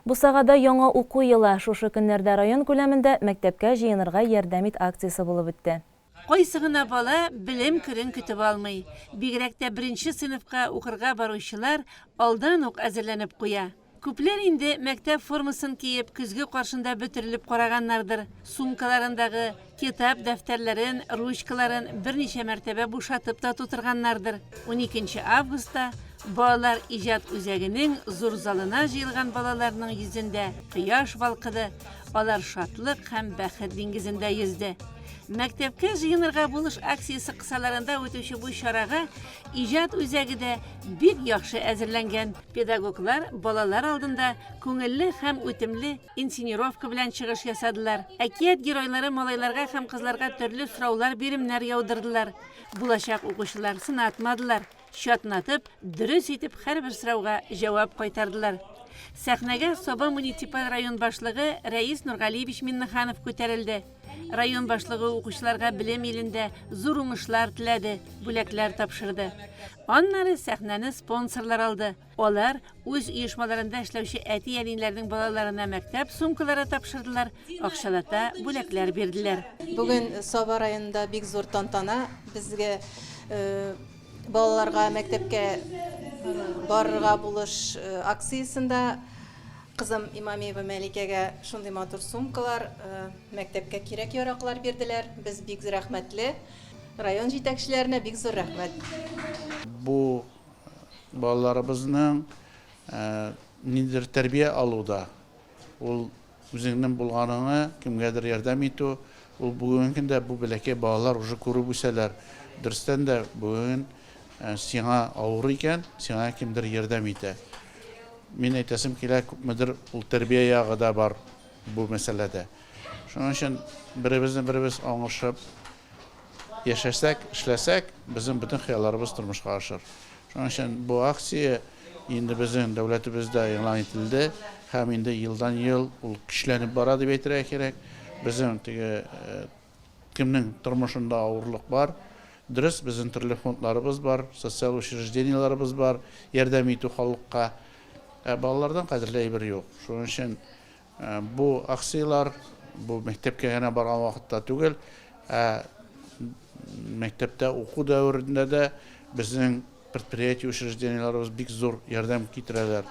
Бусагада яңа уку елы, шушы көннәрдә район күләмендә Мәктәпкә җыенырга ярдәм ит акциясе булып үтте. Кайсы гына бала белем көнен көтеп алмый, бигрәк тә беренче сыйныфка укырга баручылар алдан ук әзерләнеп куя. Күпләр инде мәктәп формасын киеп көзге каршында бөтерелеп караганнардыр, сумкаларындагы Китап дәфтәрләрен, ручкаларын берничә мәртәбә бушатып та тутырганнардыр. Уникенче августта балалар иҗат үзәгенең зур залына җыелган балаларның йөзендә кояш балкыды, алар шатлык һәм бәхет диңгезендә йөзде. Мәктәпкә җыенырга булыш акциясе кысаларында үтүче бу чарага иҗат үзәге дә бик яхшы әзерләнгән. Педагоглар балалар алдында күңелле һәм үтемле Инсценировка белән чыгыш ясадылар. Әкият геройлары малайларга һәм кызларга төрле сораулар, биремнәр яудырдылар. Булачак укучылар сынатмадылар, чатнатып, дөрес итеп һәрбер сорауга җавап кайтардылар. Сәхнәгә Саба муниципаль район башлыгы Рәис Нургалиевич Миннеханов күтәрелде. Район башлыгы укучыларга белем илендә зур уңышлар теләде, бүләкләр тапшырды. Аннары сәхнәне спонсорлар алды. Алар үз оешмаларында эшләүче әти-әниләрнең балаларына мәктәп сумкалары тапшырдылар, акчалата бүләкләр бирделәр. Бүген Саба районында бик зур тантана. Безгә балаларга мәктәпкә барырга булыш акциясендә кызым Имамиева Мәликәгә шундый матур сумкалар, мәктәпкә кирәк-яраклар бирделәр. Без бик рәхмәтле. Район җитәкчеләренә бик зур рәхмәт. Бу Балаларыбызның ниндидер тәрбия алуда ул үзеңнең булганың, кемгәдер ярдәм итү, ул бүгенге көндә бу бәләкәй балалар уже күреп үсәләр. Дөрестән дә бүген сиңа авыр икән, сиңа кемдер ярдәм итә. Мин әйтәсем килә, күпмедер ул тәрбия ягы да бар бу мәсьәләдә. Шуның өчен беребезне беребез аңлашып, Яшәсәк, эшләсәк, безнең бөтен хыялларыбыз тормышка ашыр. Шуның өчен бу акция инде безнең дәүләтебездә игълан ителде һәм инде елдан-ел ул көчләнеп бара дип әйтергә кирәк. Безнең теге э, кемнең тормышында авырлык бар, дөрес, безнең төрле фондларыбыз бар, социаль учреждениеләребез бар, ярдәм итү халыкка. Ә балалардан кадерле әйбер юк. Шуның өчен Бу акцияләр бу мәктәпкә генә барган вакытта түгел, ә мәктәптә уку дәверендә дә безнең предприятие учреждениеләребез бик зур ярдәм китерәләр.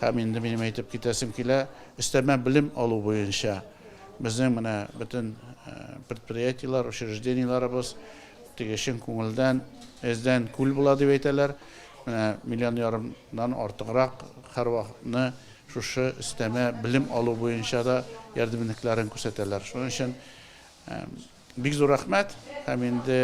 Һәм инде минем әйтеп китәсем килә, өстәмә белем алу буенча безнең менә бөтен предприятиеләр, учреждениеләребез теге чын күңелдән эздән күл була дип әйтәләр. Менә миллион ярымнан артыграк һәрвакытны Шушы өстәмә белем алу буенча да ярдәмнекләрен күрсәтәләр. Шуның өчен бик зур рәхмәт һәм инде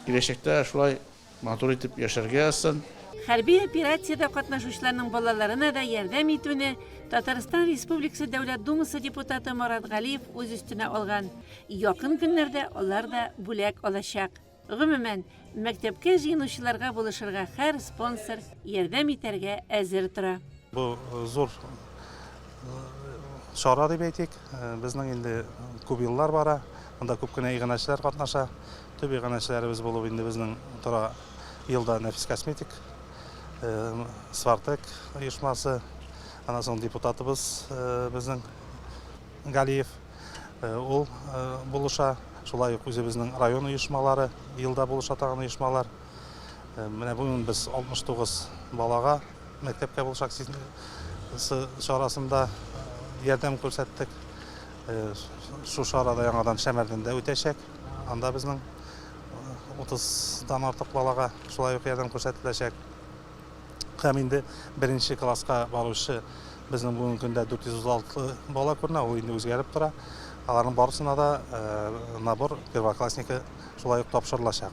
киләчәктә шулай матур итеп яшәргә язсын. Хәрби операциядә катнашучыларның балаларына да ярдәм итүне Татарстан Республикасы Дәүләт Думасы депутаты Марат Галиев үз өстенә алган. Якын көннәрдә алар да бүләк алачак. Гомумән, мәктәпкә җыенучыларга булышырга хәр спонсор ярдәм итәргә әзер тора. Бу зур чара дип әйтик. Безнең инде күп еллар бара. Монда күп кенә иганәчеләр катнаша. Төп иганәчеләребез булып инде безнең тора елда Нәфис косметик, Свартек оешмасы, аннан соң депутатыбыз безнең. Галиев ул булыша, шулай ук үзебезнең район оешмалары, елда булыша тагын оешмалар. Менә бүген без 69 балага мәктәпкә булыш акциясе чарасында ярдәм күрсәттек. Шушы арада яңадан Шәмәрдәндә үтәчәк. Анда безнең 30 дан артык балага шулай ук ярдәм күрсәтеләчәк. Һәм инде беренче класска баручы безнең бүгенге көндә 406 бала күренә, ул инде үзгәреп тора. Аларның барысына да э, набор первоклассники шулай ук тапшырылачак.